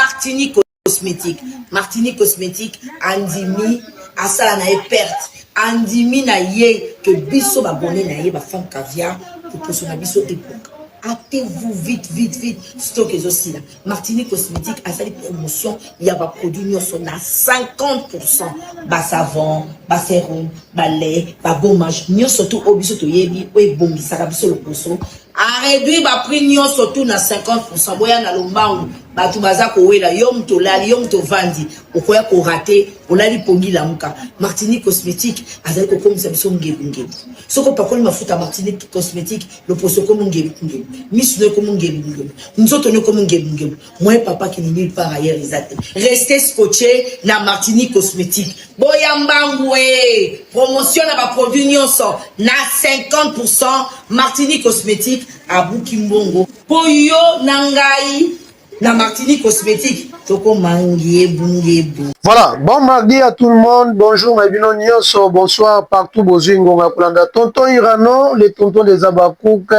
martini cosmétique martini cosmétique andimi asala na ye perte andimi na ye ke biso babone na ye bafemme caviar poposo na biso ebuka actez-vous vite vite vite stock ezosila martini cosmétique asali promotion ya baproduit nyonso na 50 pourcent basavon baserum balai bagommage nyonso tu oyo biso toyebi oyo ebongisaka biso lokoso areduire baprix nyonso tu na 50 pourcent boya na lombangu bato baza kowela yo moto olali yo moto ovandi okoya korate olali pongi lamuka martinique cosmétique azali kokomisa biso ngebungebu soki opakoli mafuta martinique cosmétique loposo ekomi ngebungebu misu no ekomi ngebungebu nzoto no ekomi ngebungebu moye papa kini nulle part ailleurs eza te reste scotche na martinique cosmétique boya mbangu e promotion na baproduit nyonso na 50 martinique cosmétique abuki mbongo po yo na ngai na martinique cosmétique Voilà, bon mardi à tout le monde. Bonjour, Mabino Nyonso. Bonsoir partout. Bozui Ngonga Kulanda. Tonton Irano, les tontons des Abakouk.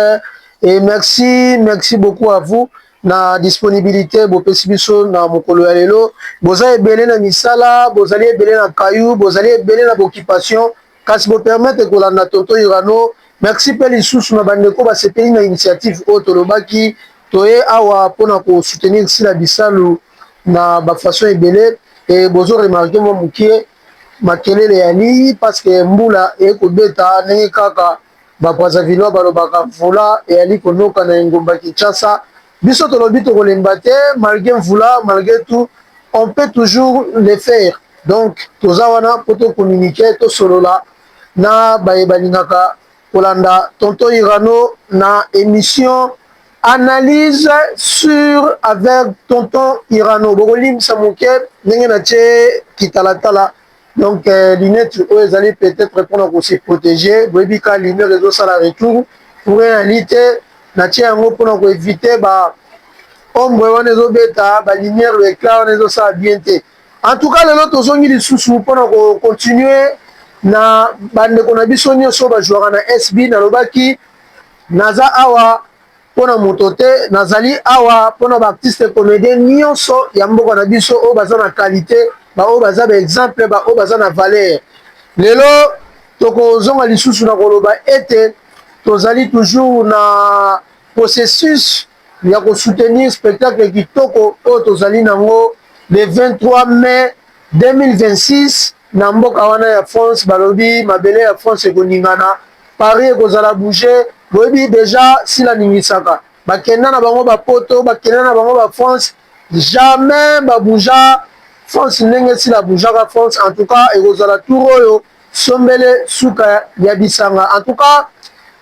Et merci, merci beaucoup à vous. na disponibilité bopesi biso na mokolo ya lelo boza ebele na misala bozali ebele na kayu bozali ebele na boccupation Kasi bo permettre kolanda tonton Irano. Merci pe lisusu na bandeko basepeli na initiative oyo tolobaki toye awa pona ko soutenir Sila Bisalu na ba façon ebele e bozo remarquer mwa mukie makelele ya liyi parce que mbula eye kobeta ndenge kaka ba Brazzavillois balobaka mvula eyali konoka na engumba Kinshasa. Biso tolobi tokolemba te malgre mvula malgre tout on peut toujours le faire. Donc toza wana po to communiquer to solola na baye balingaka kolanda tonton Irano na emission analyse sur avec tonton Irano. Bokolimbisa moke ndenge na tie kitalatala donc euh, lunette oyo ezali peut-être mpona ko se protéger boyebi ka lumière ezosala retour pour en réalité natie yango mpona ko éviter ba ombre wana ezobeta ba lumière le éclat wana ezosala bien te En tout cas lelo tozongi lisusu mpona ko continuer na bandeko na biso nyonso bajouaka na SB. Nalobaki naza awa mpona moto te, nazali awa mpona ba artistes comediens nyonso ya mboka na biso oyo baza na qualite, baoyo baza ba exemple, baoyo baza na valeur. Lelo tokozonga lisusu na koloba ete tozali toujours na processus ya ko soutenir spectacle kitoko oyo tozali nango le 23 mai 2026 na mboka wana ya France balobi mabele ya France ekoningana Paris ekozala bouge boyebi deja sila ningisaka bakenda na bango ba poto bakenda na bango ba France jamais ba bouja France ndenge sila boujaka France en tout cas ekozala tour oyo Sombele suka ya bisanga en tout cas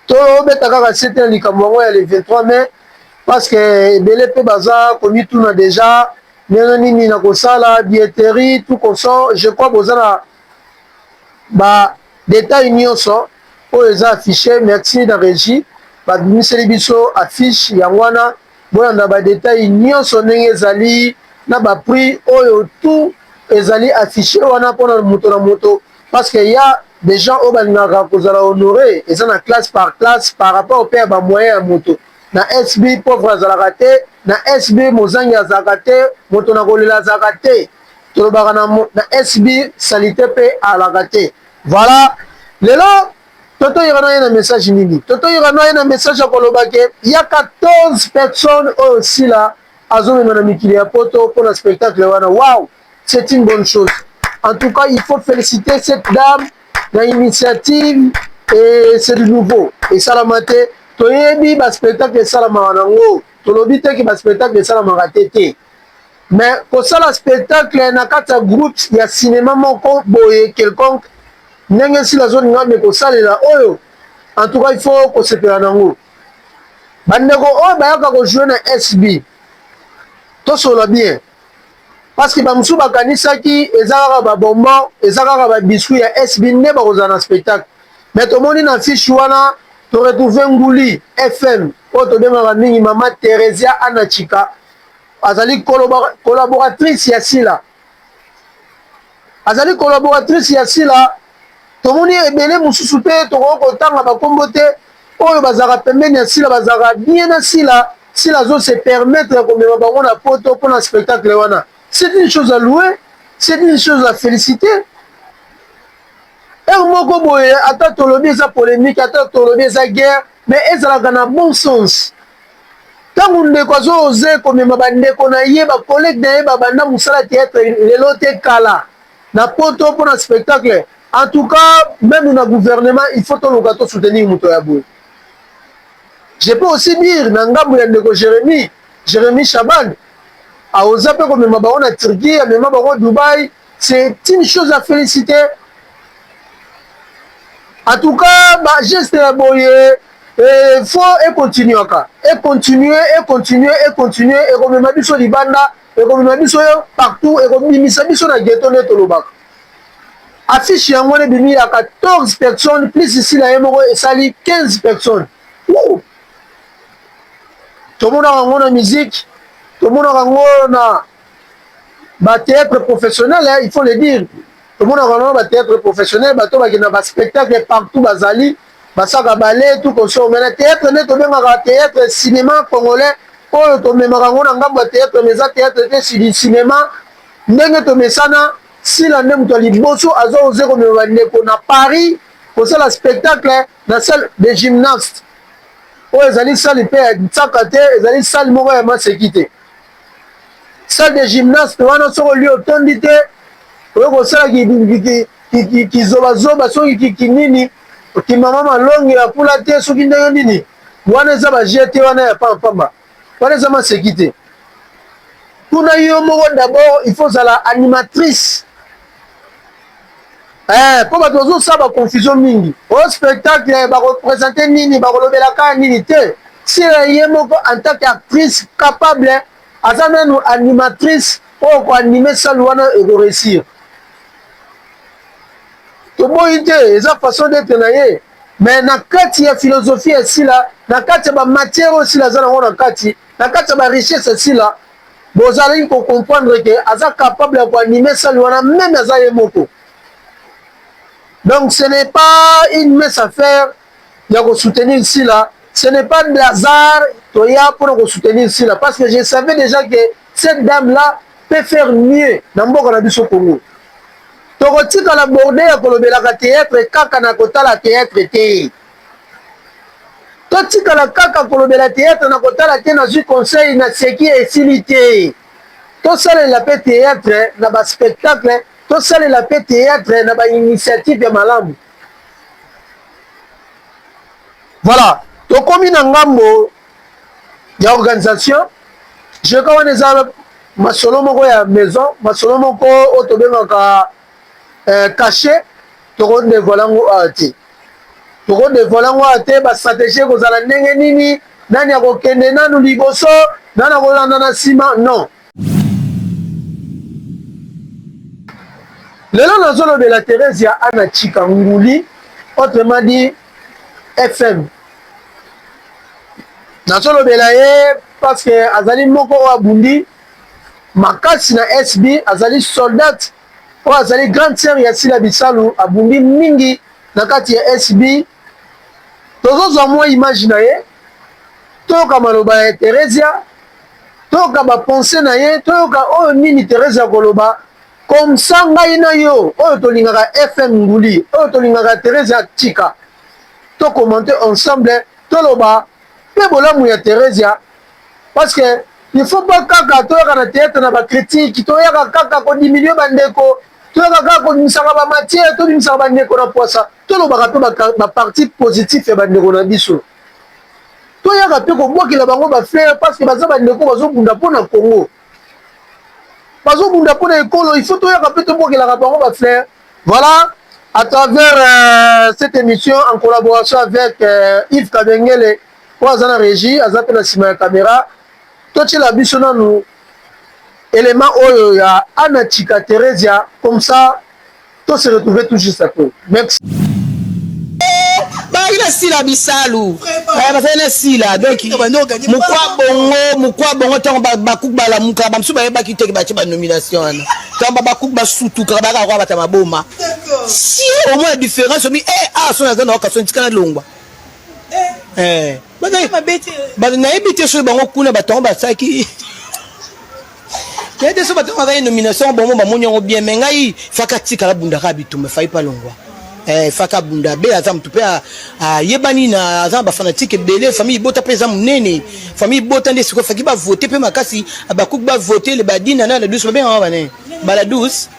tobeta kaka sete na likambo yango ya le 23 mai parce que ebele mpe baza komituna deja ndenge nini na kosala billetterie tout consort je crois boza na ba detail nyonso oyo eza affiche merci na regie babimiseli biso affiche yango wana Bolanda ba details nionso ndenge ezali na ba prix oyo tout ezali affiche wana pona moto na moto parce que ya des gens oyo balingaka kozala honore eza na classe par classe par rapport pe ya ba moyen ya moto na SB pauvre azalaka te na SB mozangi azalaka te moto na kolela azalaka te tolobaka na SB salite pe alaka te voila lelo Toto Irano aye na message nini? Toto Irano aye na message ya koloba ke ya 14 personnes oyo Sila azomema na mikili ya poto mpo na spectacle wana. Wow, c'est une bonne chose. En tout cas, il faut féliciter cette dame na initiative et c'est du nouveau. Esalama te, toyebi ba spectacle esalamaka nango, tolobi te ke ba spectacle esalamaka te te. Mais kosala spectacle na kati ya groupe ya cinéma moko boye quelconque ndenge esi nazoni ngambe kosalela oyo en tout cas il faut kosepela nango bandeko oyo bayaka kojoue na sb tosolola bien parce que bamosusu bakanisaki eza kaka babonbon eza kaka babiscuit ya sb nde bakozala na spectacle mais tomoni na fiche wana toretrouve nguli fm oyo tobengaka mingi mama theresia anachika azali collaboratrice ya sila Azali collaboratrice ya Sila. Tomoni ebele mosusu pe tokoki kotanga ba kombo te oyo bazalaka pembeni ya Sila bazalaka bien na Sila. Sila azo se permettre ya komema bango na poto pona spectacle wana c'est une chose à louer, c'est une chose à feliciter. Heure moko boye ata tolobi eza polemique ata tolobi eza guerre. Mais ezalaka na bon sens. Tango ndeko azo oser komema ba ndeko na ye, ba collegues na ye ba banda musala theatre lelo te kala na poto pona spectacle. En tout cas meme na gouvernement il faut toluka to soutenir moto ya boye. Je peux aussi dire na ngambo ya ndeko Jeremie, Jeremie Shaban, a oser pe komema bango na Turquie, amema bango Dubaï, C'est une chose à feliciter. En tout cas, bah, geste la boye, et faut et continuer encore. Et continuer, et continuer, et continuer, et comme ma biso di banda, et comme ma biso partout, et comme bimisa biso na ghetto ne tolobaka. Affiche yango ne bimi ya 14 personnes, plus ici la yemoko esali 15 personnes. Ouh! Tomonaka yango na musique, tomonaka yango na ba theatre professionnel il faut le dire tomonaka na ba theatre professionnel bato bakenda ba spectacle partout bazali basaka bale tout koso mais na theatre nde tobengaka theatre cinéma congolais oyo tomemaka yango na ngambo ya theatre mais eza theatre te sidi cinéma ndenge tomesana sila nde moto ya liboso aza oze komema bandeko na paris kosala spectacle na salle de gymnaste oyo ezali sali mpe ya nsaka te ezali sali moko ya maseki te salle de gymnaste wana soki olie otondi te oyo kosala kizobazoba soki kinini okimama malongi ya pula te soki ndenge nini wana eza baje te wana ya pampamba wana eza maseki te kuna yo moko d'abord il faut ozala animatrice Eh, mpo bato bazosala ba confusion mingi o oh, spectacle bakopresente nini bakolobela kaka nini te sire ye moko en tant que actrice capable aza nanu animatrice oyo koanime sale wana ekoresir toboyi te eza façon d'etre na ye mais na kati ya philosophie ya sila na kati ya bamatière oyo sila aza nango na kati na kati ya barichesse ya sila Bozalaki ko comprendre que aza capable ya ko animer salle wana meme aza ye moko. Donc ce n'est pas une mince affaire ya ko soutenir Sila, ce n'est pas de hasard toya pona ko soutenir Sila parce que je savais déjà que cette dame là peut faire mieux na mboka na biso Congo. Tokotikala borde ya kolobelaka théâtre kaka na kotala théâtre te. Totikala kaka kolobela theatre na kotala te na zui conseil na seki esili te tosalela pe theatre na ba spectacle tosalela pe theatre na ba initiative ya malamu voilà tokomi na ngambo ya organisation jeka wana eza masolo moko ya maison masolo moko oyo tobengaka eh, kashe toko devoile yango awa ah, te toko devoile yango awa ah, te ba stratégie ekozala ndenge nini nani akokende nanu liboso nani akolanda na nsima non lelo nazolobela theresia ana chika nguli autrement dit fm nazolobela ye parce que azali moko oyo abundi makasi na sb azali soldate oyo azali grande sœur ya Sila Bisalu abundi mingi na kati ya SB. Tozozwa mwa image na ye, toyoka maloba ya Theresia, toyoka ba pensee na ye, toyoka oyo nini Theresia akoloba. Comme ça ngai na yo oyo tolingaka FM Nguli, oyo tolingaka Theresia Chika, to commenter ensemble, toloba pe bolamu ya Theresia. parce que il faut pas kaka toyaka na théâtre na ba critique toyaka kaka ko diminuer ba ndeko toyaka kaka kobimisaka ba matière tobimisaka ba ndeko na poisa tolobaka mpe ba partie positif ya ba ndeko na biso toyaka mpe kobwakela bango ba fleur parce que baza ba ndeko bazobunda mpo na congo bazobunda mpo na ekolo il faut toyaka mpe tobwakelaka bango ba fleur voilà à travers euh, cette émission en collaboration avec euh, Yves Kabengele oyo aza na regie aza mpe na nsima ya kamera totyela biso nanu elema oyo ya ana chika theresia comme ça to se retrouver tout juste après merci bazalaki na sila bisalu bazalaki na sila donc mokwa bongo mokwa bongo ntango bakuku balamuka bamosusu bayebaki teke batye banomination wana ntango babakuku basutuka bayaka kwa bata maboma si omona différence omi e eh, awa ah, soni aza na wakaso ntikana longwa Eh, bato nayebi te soki bango kuna bato yango basalaki nayebi te soki bato yango bazali nomination yango bango bamoni yango bien mai ngai faka atikala bundaka bitumba efai mpa longwa eh, faka abunda be aza motu mpe ayebani na aza na bafanatike ebele famille ibota mpe eza monene famille ibota nde sikoyo faki bavote mpe makasi abakuki bavote le badina na la douce babengaka banani bala douce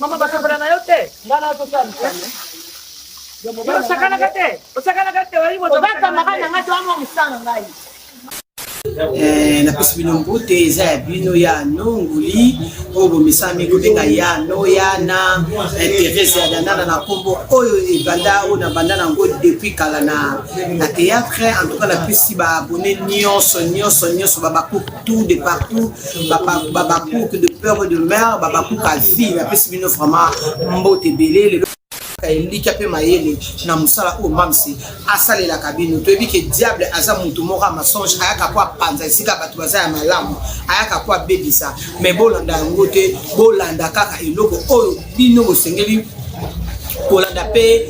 Mama basakana na yo te. Nga na to sala musala. Osakana ka te. Osakana ka te. Oyi moto. Obaka maka na nga to amo musala ngai. Eh, napesi bino mbote eza ya bino ya nonguli oyo bomesami kobenga ya noyana eh, therese ya danana na nkombo oyo ebanda oyo nabanda na yango depuis kala na na théâtre en tout cas napesi baabone nyonso nyonso nyonso babakutu de partout babakouk de peur et de mère babakouk avi napesi bino vraiment mbote ebele lelo elikya mpe mayele na mosala oyo mamsi asalelaka bino toyebi ke diable aza motu moko ya masonge ayaka ko apanza esika bato baza ya malamu ayaka ko abebisa me bolanda yango te bolanda kaka eloko oyo bino bosengeli kolanda mpe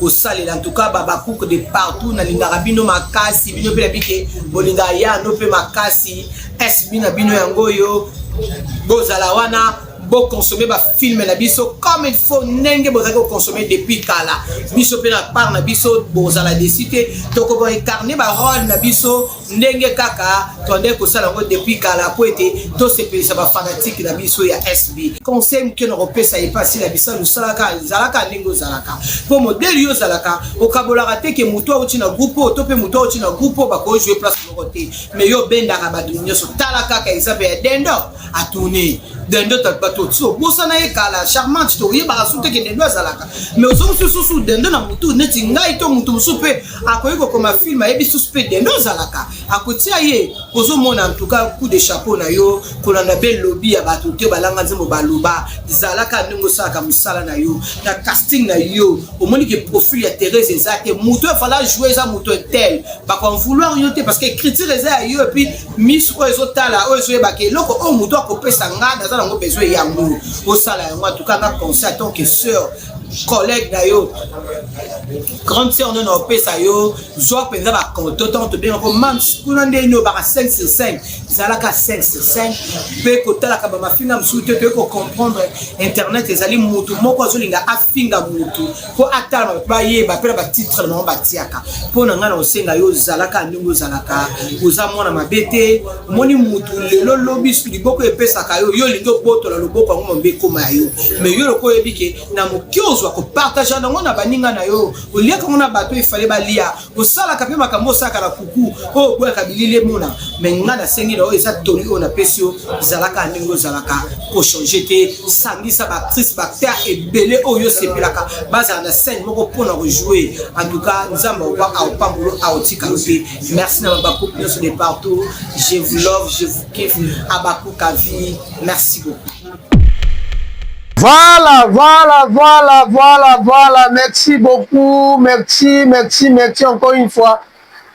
kosalela antuka babakuke de partout nalingaka bino makasi bino mpe nabi ke bolingaka yano mpe makasi SB na bino yango oyo bozala wana boconsommer bafilme na biso comme il faut ndenge bozalaki koconsommer depuis kala biso mpe na part na biso bozala desi te tokoba incarne barole na biso ndenge kaka tondai kosala yango depuis kala mpo ete tosepelisa bafanatike na biso ya sb conseil moke na kopesa epasi na bisa losalaka ezalaka ndenge ozalaka mpo modele yo ozalaka okabolaka te ke motu auti na groupe oyo to mpe motu auti na groupe oyo bakoki joue place moko te mais yo obendaka bato nyonso tala kaka exemple ya dendo atourne dendo bato ti obosana ye kala charmante toyebaka su teke dendo azalaka mais ozo mosusu susu dendo na motu neti ngai to motu mosusu mpe akoki kokoma filme ayebi susu mpe dendo azalaka akotia ye ozomona antuka coup de chapeau na yo kolanda mpe lobi ya bato te balanga nzembo baloba zalaka ndenge osalaka mosala na yo na casting na yo omoni ke profil ya therese eza te moto efala joue eza moto etel bako vouloir yo te parce que écriture eza ya yo epuis misu oyo ezotala oyo ezoyebaka eloko oyo moto akopesa nga naza nango besoin yango osala yango atuka nga conseil en tant que sœur collègue na yo grande sœur nde naopesa yo zwa mpenza bakonto ntango tobengaka mams kuna nde nyobaka 5 sur 5 ezalaka 5 sur 5 mpe kotalaka bamafinga mosusu te toyei kocomprendre internet ezali motu moko azolinga afinga motu mpo atala bato bayeba mpe na batitre na bango batiaka mpo na ngai na kosenga yo ozalaka ndenge ozalaka oza mwana mabe te omoni motu lelo lobi liboko epesaka yo yo olingi obotola loboko yango mambe ekoma ya yo mai yo lokola oyebi ke na moke ozwa kopartage yango na baninga na yo oliaka yango na bato efale balia osalaka mpe makambo osalaka na kuku oyo oh, oboyaka bilili emona me nga nasengi na oyo eza toli oyo napesi yo zalaka na ndenge ozalaka kochange te sangisa baactrice baacteur ebele oyo osepelaka bazala na scène moko mpona kojoue en tout cas nzambe aoba aopambolo aotika yo te merci na babakuku nyonso de partout je vous love je vous kiffe abakuka vie merci beaucoup Voilà, voilà, voilà, voilà, voilà. Merci beaucoup. Merci, merci, merci encore une fois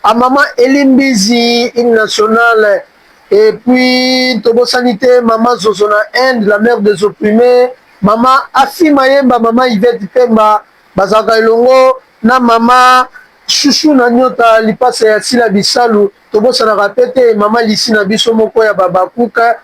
à maman Elimbizi, une nationale. Et puis, Tobo Sanité, maman Zozona End, la mère des opprimés. Maman Afi Mayemba, maman Yvette Pemba, Bazaka Elongo, na maman Chouchou na nyota lipasa ya sila bisalu tobosanaka pe te mama lisi na biso moko ya babakuka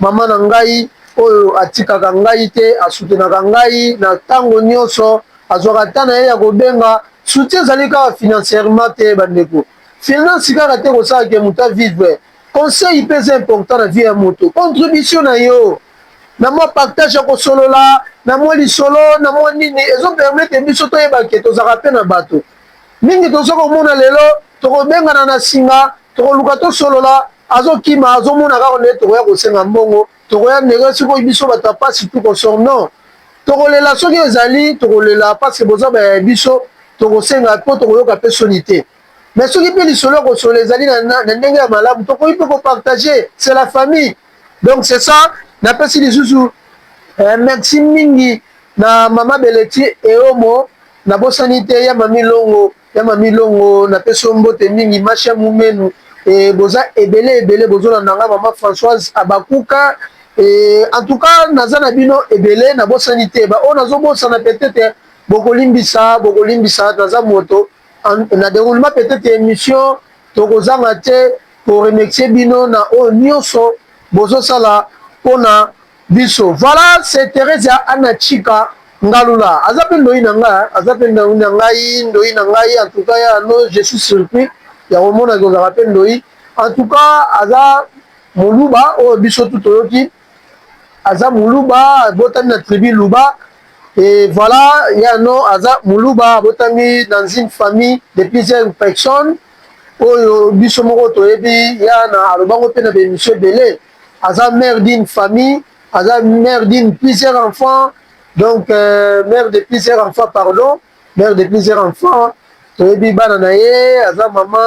Mama na ngai oyo atikaka ngai te, asoutenaka ngai na tango nionso, azwaka temps na ye ya kobenga, soutien ezali kaka financierement te ba ndeko, finance kaka te ekosala ke moto a vivre, conseil pe eza important na vie ya moto, contribution na yo na mwa partage ya kosolola, na mwa lisolo, na mwa nini, ezo permettre biso toyeba ke tozalaka pe na bato, Mingi tozo komona lelo tokobengana na singa tokoluka tosolola azokima azomona kaka nde tokoya kosenga mbongo tokoya ndenge sikoyo biso bato ya pasi tuko sor non tokolela soki ezali tokolela paske boza baya ya biso tokosenga po tokoyoka pe soni te mais soki pe lisolo ya kosolola ezali na, na, na ndenge ya malamu tokoki pe kopartage c'est la famille donc c'est ça napesi lisusu eh, merci mingi na mama beleti eomo Na bosani te ya mami longo ya mami longo na pesi yo mbote mingi ma chère mumenu eh, boza ebele ebele bozo landa nga maman Françoise abakuka eh, en tout cas naza na bino ebele na bosani te ba oyo nazo bosana peut-être bokolimbisa bokolimbisa naza moto na déroulement peut-être émission tokozanga te ko remercier bino na oyo nyonso bozosala mpona biso voilà c'est Theresia Anna Chika Ngalula aza pe ndoyi na nga aza pe ndoyi na ngai ndoyi na ngai en tout cas ya no je suis surpris ya komona kozaka pe ndoyi en tout cas aza moluba oyo biso tu toyoki aza moluba abotami na tribu luba et voilà ya no aza moluba abotami dans une famille de plusieurs personnes oyo biso moko toyebi ya na alobango pe na ba émission ebele aza mère d'une famille aza mère d'une plusieurs enfants donc euh, mère de plusieurs enfants pardon mère de plusieurs enfants toyebi bana na ye aza mama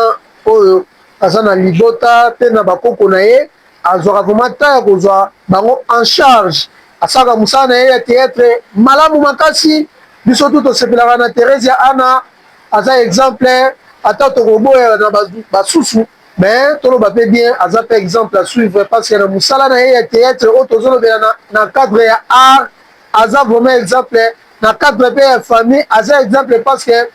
oyo aza na libota mpe na bakoko na ye azwaka vraimen ntan ya kozwa bango en charge asalaka mosala na ye ya teatre malamu makasi biso tu tosepelaka na theresia ana aza exemple ata tokoboya na basusu Mais toloba pe bien aza pe exemple à suivre parce que na musala na ye ya theatre oyo tozolobela na, na cadre ya art aza vraiment exemple na cadre pe ya famille aza exemple parce que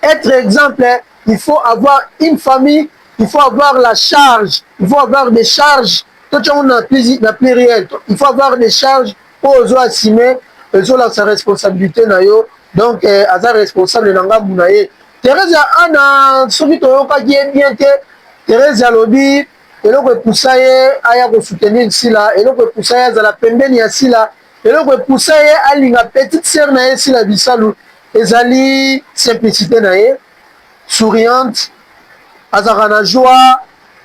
être exemple il faut avoir une famille il faut avoir la charge il faut avoir des charges totiango na, na pluriel il faut avoir des charges oyo ozo assume ezolakisa responsabilité na yo donc eh, aza responsable na ngambu na ye Theresia Anna soki toyokaki ye bien te Theresia alobi eloko epusa ye aya ko soutenir Sila eloko epusa ye azala pembeni ya Sila eloko epusa ye alinga petite sœur na ye Sila Bisalu ezali simplicite na ye souriante azalaka na joie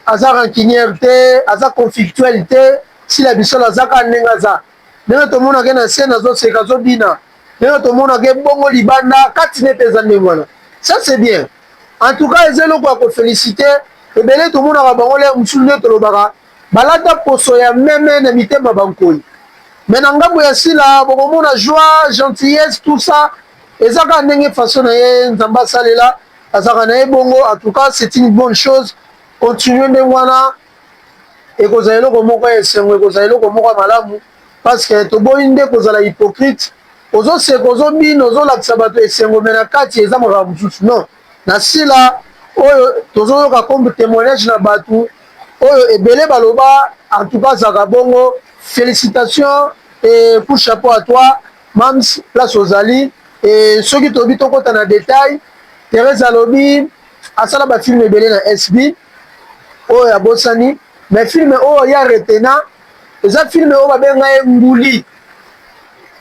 aza rancunière te aza conflictuelle te Sila Bisalu aza kaka ndenge aza ndenge tomonaka ye na scène azoseka azobina ndenge tomonaka ye bongo libanda kati nete eza ndenge wana ça c'est bien en tout cas eza eloko ya kofelicite ebele tomonaka bango lere mosusu nde tolobaka balata poso ya meme na mitema bankoi me na ngambo ya sila bokomona joie gentillesse tout ça eza kaka ndenge façon na ye nzambe asalela azalaka na ye bongo en tout cas c'est une bonne chose continue ndenge wana ekozala eloko moko ya esengo, ekozala eloko moko ya malamu, parce que toboyi nde kozala hypocrite. Ozoseka, ozobina, ozolakisa bato esengo, mais na kati eza makambo mosusu. Non, na sila oyo tozoyoka comme temoignage na bato oyo ebele baloba, en tout cas zaka bongo. Felicitations et coup chapeau à toi Mams, place ozali et soki tobi tokota na detail, Therese alobi Asala ba film ebele na SB oyo abosani mais film oyo ya retena eza film oyo babenga ye nguli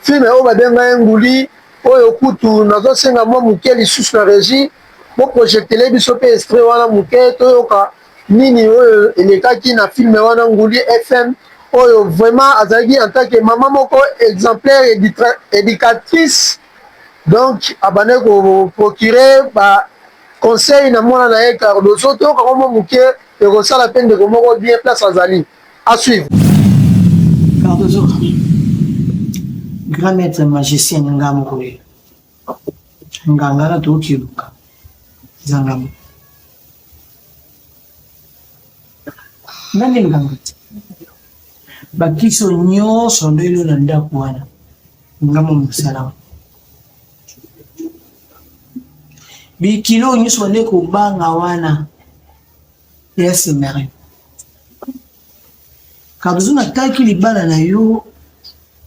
film oyo babenga ye nguli oyo kutu nazosenga mwa moke lisusu na regie boprojectele biso mpe estre wana moke toyoka nini oyo elekaki na filme wana nguli fm oyo vraiment azalaki en tant que mama moko exemplaire éducatrice Donc abandaki ko procurer ba conseil na mwana na ye Cardozo toyoka ngo mwa moke ekosala mpe ndeko moko bien place azali à suivre. Cardozo grand maître magicien ni nga moko ye nganga na toyoki eluka eza nga moko nani nganga te Bakiso nyoso lelo na ndako wana ngambo mosala bikilo nyoso bande kobanga wana ya semere kabuzu nataki libala na yo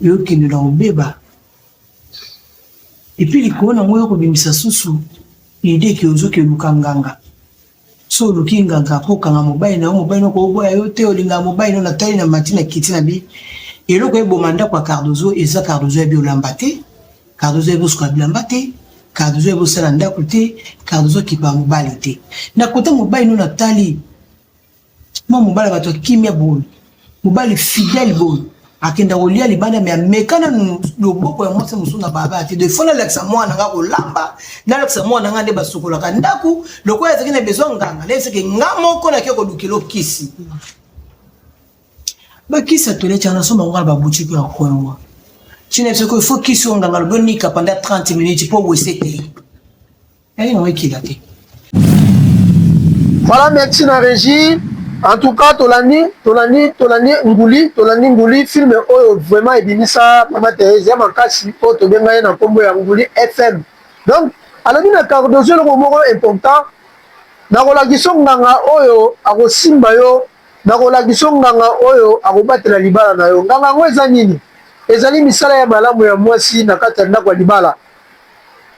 yokende na kobeba epuis likolo na ngo yokobimisa susu idee ke ozoki oluka nganga So oluki nganga ko kanga mobali na yo, mobali no ko boya yo te, olinga mobali no na tali na mati na kiti na bi. Eloko eboma ndako ya Cardozo eza Cardozo ya bi olamba te, Cardozo ya bi osuka bilamba te, Cardozo ya bi osala ndako te, Cardozo kipa mobali te. Na kote mobali no na tali Mwa mobali bato ya kimia boye, mobali fidèle boye akenda kolia libanda me ameka nanu loboko ya mwasi mosusu na baba te de fo nalakisa mwana nga kolamba nalakisa mwana nga nde basukolaka ndako lokola ezalaki na besoin nganga nayebisaki nga moko nake kolukela okisi bakisi ya toilette yana soma ngo na babutiki ya kongo ntina biso ko ifo kisi oyo nganga lobi onika panda 30 minutes mpo wese te Yaye na wekila te. Voilà, merci na régie. En tout cas, tolandi, tolandi, tolandi nguli, tolandi nguli film oyo vraiment ebimisa Mama Therese ya makasi oyo tobenga ye na kombo ya nguli FM. Donc, alobi na Cardozo eloko moko important nakolakisa nganga oyo akosimba yo nakolakisa nganga oyo akobatela libala na yo nganga yango eza nini ezali misala ya malamu ya mwasi na kati ya ndako ya libala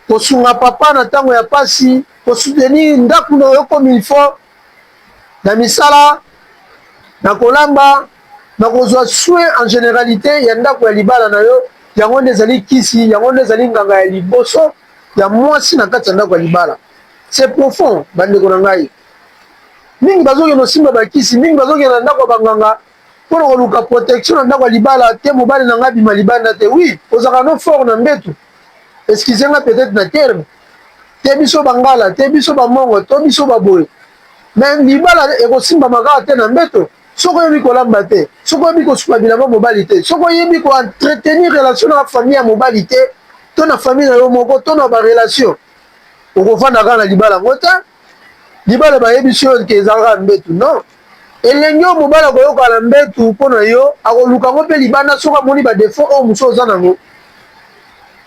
kosunga papa na tango ya pasi, ko soutenir ndaku na yo comme il faut, na misala, na kolamba, na kozua soins en generalite ya ndaku ya libala na yo, yango nde ezali kisi, yango nde ezali nganga ya liboso ya muasi na kati ya ndaku ya libala. C'est profond ba ndeko na ngai. Mingi bazo kende kosimba ba kisi, mingi bazo kende na ndaku ya ba nganga, Mpo na koluka protection na ndako ya libala te mobali na ngai abima libanda te. Oui, ozalaka no fort na mbetu. Excusez nga peut-être na terme. Te biso bangala, te biso ba mongo, to biso ba boye. Mais libala ekosimba makaka te na mbeto. Soko yebi kolamba te, soko yebi kosuka bilamba mobali te, soko yebi ko entretenir relation na famille ya mobali te, to na famille na yo moko, to na ba relation. Okofanda kaka na libala ngo te. libala bayebisi yo ke ezalaka mbetu non elenge oyo mobali akoyoka na mbetu mpo na yo akoluka yango mpe libanda soki amoni badefaut oyo mosusu oza nango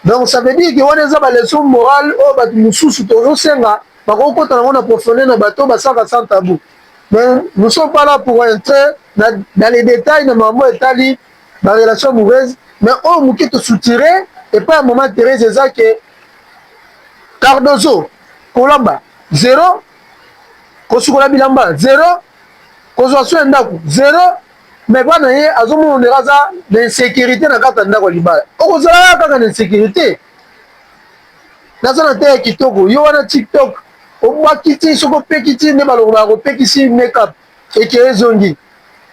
donc ça veut dire ke wana eza baleson morale oyo bato mosusu tozosenga bakoki kota nango na profonde na bato basalaka sans tabou mais nous sommes pas là pour entrer na, na les détails na mambo etali barelation amoureuse mais oyo moke tosoutire epai ya mama therese eza ke cardozo kolamba zero kosukola bilamba zero kozwa so ya ndako zero me bana ye azomona ondeka aza na insécurité na kati ya ndako ya libala okozalaka kaka na insécurité naza na te ya kitoko yo wana tiktok obwakiti soki opekiti nde balongolaka kopekisi makeup eke ezongi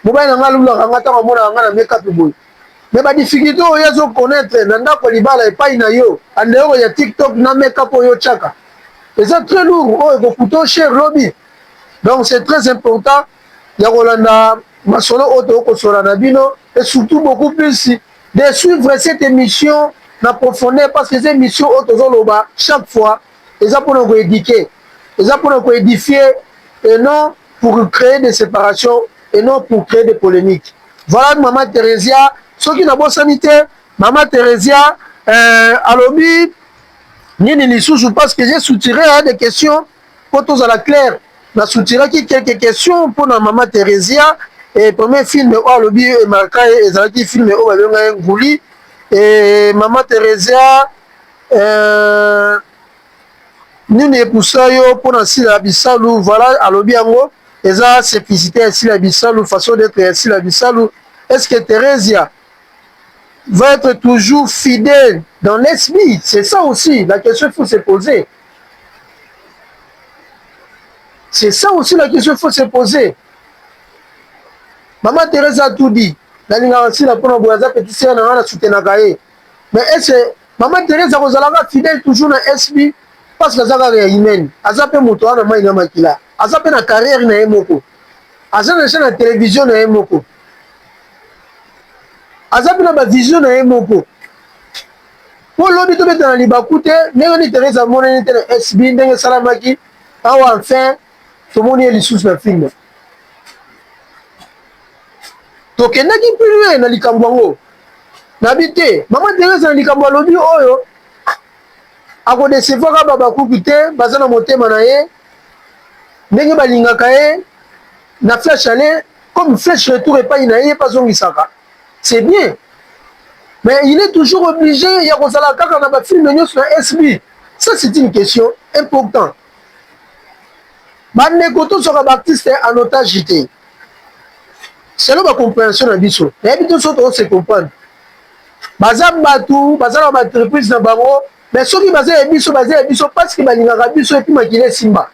mobali na ngai alulaka ngai ntango amonaka ngai na makeup boye mais ba difficulté oyo azo connaître na ndako ya libala epai na yo en dehors ya TikTok na make-up oyo otiaka eza très lourd oyo ekokuta yo cher lobi donc c'est très important ya kolanda masolo oyo tokosola na bino et surtout beaucoup plus de suivre cette émission na profondeur parce que eza émission oyo tozoloba chaque fois eza mpona koéduquer eza mpona koédifie et non pour créer des séparations et non pour créer des polémiques Voilà mama Theresia soki nabosani te mama Theresia euh, alobi nini lisusu parce que j'ai soutiré hein, des questions mpo tozala claire na soutiraki quelques questions mpo na mama Theresia et premier film oyo alobi emarka ye ezalaki film oyo babenga ye nguli et mama Theresia euh, Nini epusa yo pona sila bisalu voila alobi yango eza seplicite ya sila bisalu façon d'etre ya sila bisalu est ce que Theresia va etre toujours fidèle dans l'SB c'est ça aussi la question il faut se poser c'est ça aussi la question il faut se poser maman Theresia a tout dit nalingaka sila pona boye aza petit sœur na nga na soutenaka ye mais est ce Maman Therèse akozala kaka fidèle toujours na SB parce que aza kaka ya Hymen. Aza pe moto aza na mayi na makila. Aza pe na carrière na ye moko. Aza dejà na television na ye moko. Aza pe na ba vision na ye moko. Po lobi tobeta na libaku te ndenge ni Therèse amonani te na SB ndenge esalamaki awa enfin tomoni ye lisusu na film. tokendaki mpe na likambo yango nabi te mama teresa na likambo alobi oyo akodesevaka babakuki te baza na motema na ye ndenge balingaka ye na flash ale comme flash retour epai na ye mpe azongisaka c'est bien mais il est toujours obligé ya kozala kaka na bafilme nyonso na sb ça c'est une question importante Ba ndeko to zwaka ba artiste en otage te. Selon ba comprehension na biso, nayebi te soki to se comprendre. Baza batu, baza na ba entreprise na bango, mais soki baza ya biso, baza ya biso parce que balingaka biso et puis makila esimba.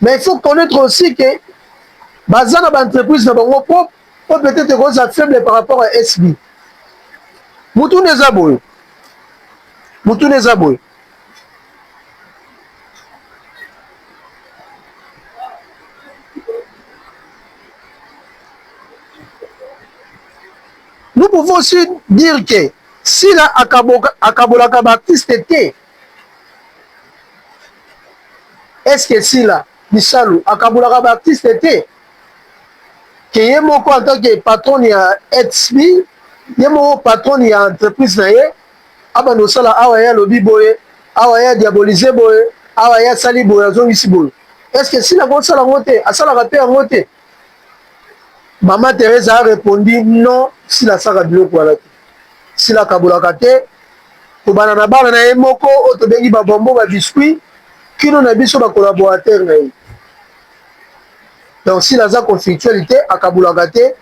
Mais il faut connaître aussi que baza na ba entreprise na bango propre, po peut-être ekoza faible par rapport à SB. Mutuna eza boye. Mutuna eza boye. Nous pouvons aussi dire que Sila akabolaka baartiste te. Est-ce que Sila Bisalu akabolaka baartiste te? ke ye moko en tant que patron ya HB ye moko patron ya entreprise na ye abanda kosala awa ye alobi boye awa ye adiabolise boye awa ye asali boye azongisi boye eske sila akosala yango te asalaka mpe yango te mama teresa arepondi non sila asaka biloko wana te sila akabolaka te kobana na bana na ye moko oyo tobengi babombo babiscuit kino na biso bakolaborateur na ye donc sila aza conflictuel te akabolaka te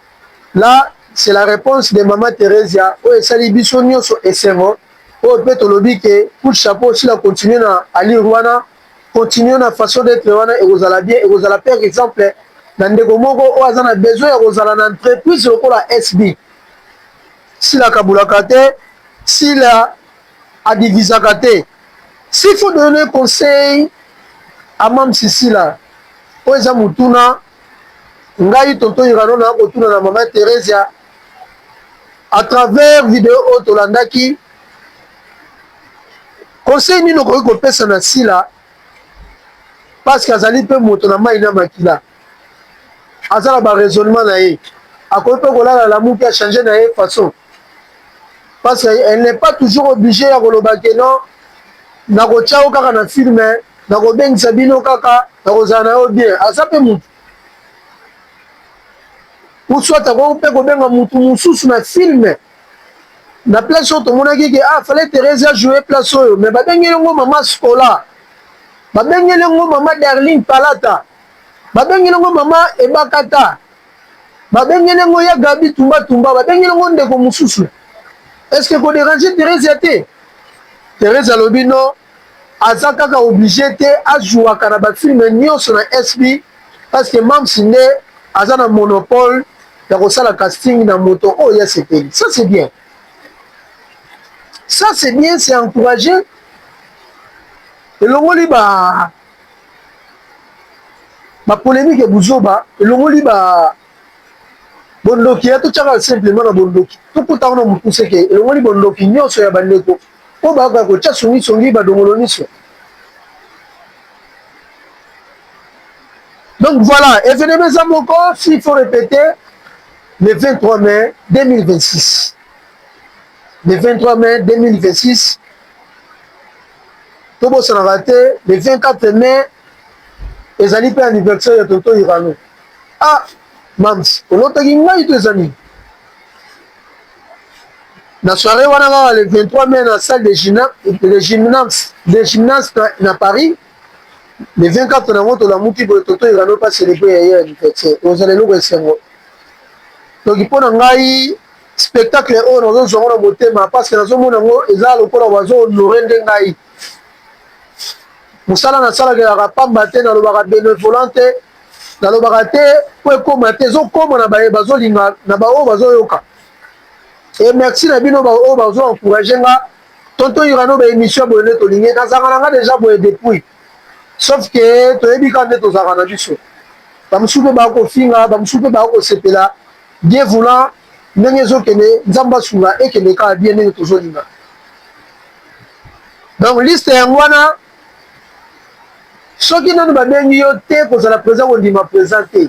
Là c'est la reponse de maman Theresia oyo esali biso nioso esengo oyo pe tolobi que coup de chapeau sila continue na allure wana continue na façon d'etre wana ekozala bien ekozala pe exemple na ndeko moko oyo aza na besoin ya kozala na entreprise lokola SB sila akabulaka te sila adivisaka te s'il faut donner conseil à Mamsi Sila oyo eza mutuna ngai tonton irano na kotuna na mama theresia à travers video oyo tolandaki conseil nini okoki kopesa na sila parce que azali mpe moto na mai na makila aza na baraisonnement na ye akoki mpe kolala lamuki achange na ye façon parce que elle n'est pas toujours obligée ya koloba ke non nakotya yo kaka na filme nakobengisa bino kaka nakozala na yo bien aza mpe motu uswat akoki mpe kobenga motu mosusu na filme na place oyo tomonaki ke ah fallait Therese ajoue place oyo mais babengeli yango mama Scola babengeli yango mama Darling Palata babengeli yango mama Ebakata ba bengeli ngo ya Gabi tumba tumba ba bengeli ngo ndeko mususu est-ce que ko déranger Theresia te Theresia lobi non aza kaka oblige te azuaka na ba film nyonso na SB parce que Mams nde aza na monopole ya kosala casting na moto oyo ya sepeli ça c'est bien ça c'est bien c'est encouragé elongoli ba ba polemique ya buzoba elongoli ba bondoki ya totyaka simplement na bondoki tokuta wana mokuse ke elongoli bondoki nyonso ya bandeko oyo bayoka kotya songisongi badongolo nyonso donc voilà evenema eza moko s'il faut répéter le 23 mai 2026 le 23 mai 2026 tobosanaka te le 24 mai ezali mpe anniversaire ya tonto irano ah mams olotaki ngai to eza nini na soirée wana kaka le 23 mai na salle de gymnase de gymnase na paris le 24 nango tolamuki boye tonto irano mpe aselebwe ya ye anniversaire ozala eloko esengo donc mpo na ngai Spectacle oyo nazo zwa ngo na motema parce que nazo mona ngo eza lokola bazo honore nde ngai mosala nasalaka elaka pamba te nalobaka benevolant te nalobaka te po ekoma te ezokoma na baye bazolinga na baoyo bazoyoka e merci na bino baoyo bazo encourage nga tonto irano ba émission boye nde tolingi nazalaka na nga deja boye depuis sauf ke toyebi ka nde tozalaka na biso bamosusu mpe bakofinga bamosusu mpe bakosepela Bien voulant ndenge ezokende nzambe asunga ekende kaka bien ndenge tozolinga donc liste yango wana soki nanu babengi yo te kozala présent kondima présent te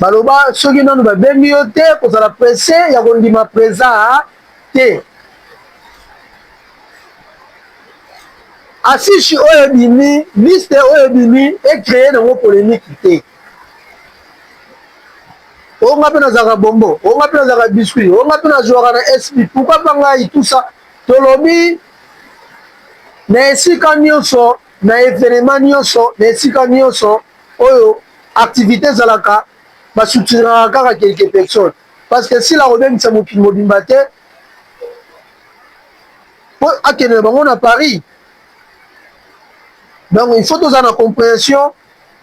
baloba soki nanu babengi yo te kozala presse ya kondima présent te affiche oyo ebimi liste oyo ebimi ecreye nango polémique te oyo nga mpe nazalaka bombo oyo nga mpe nazalaka biscuit oyo nga mpe nazwaka na sp pourkoi mpa ngai tusa tolobi na esika nyonso na evenema nyonso na esika nyonso oyo activité ezalaka basoutiraka kaka quelque personne parce que sila kobengisa mokili mobimba te mpo akende na bango na paris donc il faut tozala na compréhension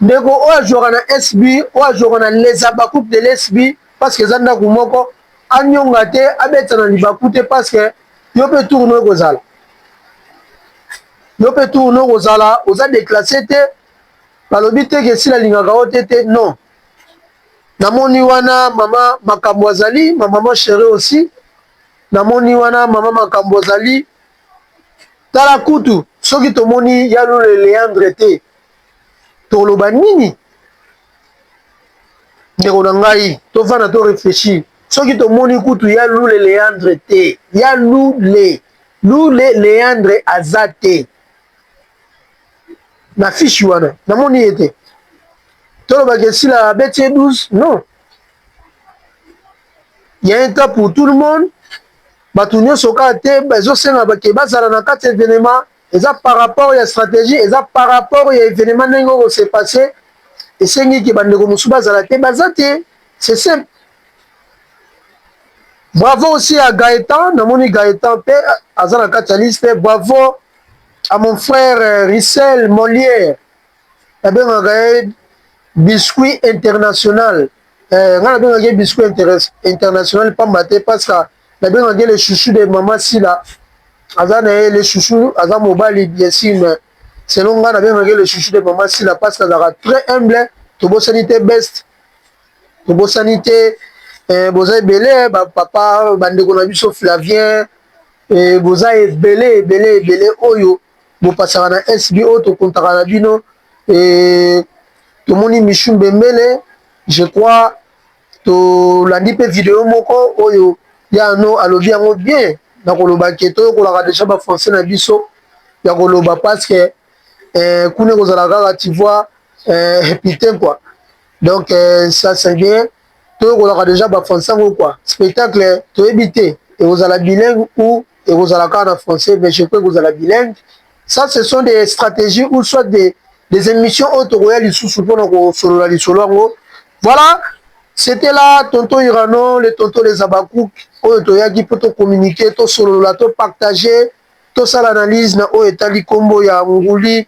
Ndeko oyo azuaka na SB, oyo azuaka na Les Habacucs de l'SB, parce que eza ndaku moko, anionga te, abeta na libaku te parce que yo pe tour no ekozala. Yo pe tour no ekozala, oza declasse te, balobi te ke sila alingaka yo te te, non. Namoni wana mama makambo azali, ma maman chérie aussi. Namoni wana mama makambo azali. Tala kutu soki tomoni ya lule Leandre te. toloba nini ndeko na ngai tofanda to réfléchir soki tomoni kutu ya lule leandre te ya lule lule leandre aza te na fishi wana namoni ye te tolobaka esila abeti ye 12 non ya un temps pour tout le monde bato nyonso kaka te bazosenga bake bazala na kati evenema Eza par rapport ya strategie, eza par rapport ya evenement ndenge oko se passer. Esengi ke bandeko mosusu bazala te, baza te. C'est simple. Bravo aussi à Gaëtan, namoni Gaëtan pe aza na kati ya liste. Bravo à mon frère euh, Rissel Molière. Nabengaka ye biscuit international. Eh, nga nabengaka ye biscuit international pamba te parce que Na benga ke le chouchou de maman sila aza na ye le chouchou aza mobali bien sur mais selon nga na benga ke le chouchou de maman sila parce que azaka très humble tobosani te best tobosani te eh, boza ebele eh, ba papa ba ndeko na biso Flavien eh, boza ebele ebele ebele oyo bopasaka na SB oyo tokontaka na bino eh, tomoni Michou Mbembele je crois Tolandi mpe video moko oyo ya Arnaud alobi yango bien na koloba ke toyokolaka deja ba français na biso ya koloba parce que eh, kuna ekozala kaka tu vois eh, putain quoi donc eh, ça c'est bien toyokolaka deja ba français yango quoi spectacle toyebi te ekozala bilingue ou ekozala kaka na français mais je crois ekozala bilingue Ça, ce sont des stratégies ou soit des, des émissions oyo tokoya lisusu mpo na kosolola lisolo yango. Voilà, c'était là tonton Irano, le tonton les Habakkuk oyo toyaki mpo tocommuniquer, tosolola, topartager, tosala analyse na oyo etali nkombo ya nguli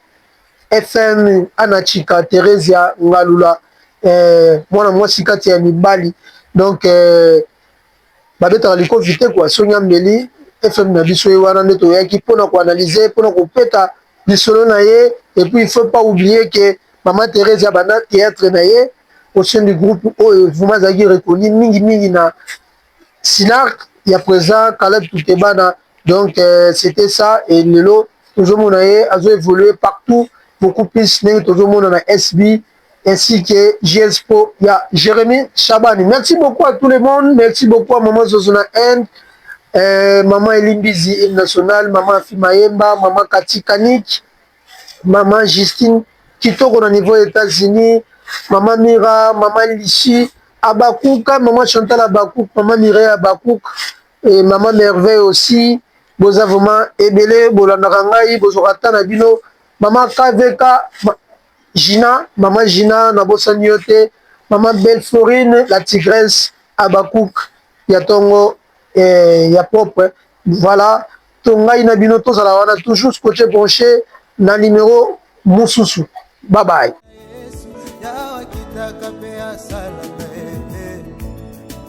FM Anachika Theresia Ngalula eh, mwana mwasi kati ya mibali donc eh, babetaka liko vite kwa songi ameli fm na biso ye wana nde toyaki mpo na koanalyse mpo na kopeta lisolo na ye epuis il faut pas oublie ke mama therese ya banda theatre na ye au sein du groupe oyo vraimen azalaki reconnu mingi mingi na sinarc ya présent kaleb tutebana donc euh, c'était ça et lelo tozomona ye azo évoluer partout beaucoup plus ndenge tozomona na sb ainsi que GSPO ya Jeremy Shabani. Merci beaucoup à tout le monde. Merci beaucoup à Maman Zozona End, euh, Maman Elimbizi Hymne National, Maman Afi Mayemba, Maman Kati Kanik, Maman Justine Kitoko na niveau États-Unis, Maman Mira, Maman Lissi, Abakouk, Maman Chantal Abakouk, Maman Mireille Abakouk, et Maman Merveille aussi. Boza vraiment ebele bolandaka ngai bozokata na bino Maman KVK Gina maman Gina na bosani yo te maman belle Florine la tigresse Habacuc ya tongo eh, ya propre voilà to ngai na bino tozala wana toujours scotche branche na numero mususu bye bye.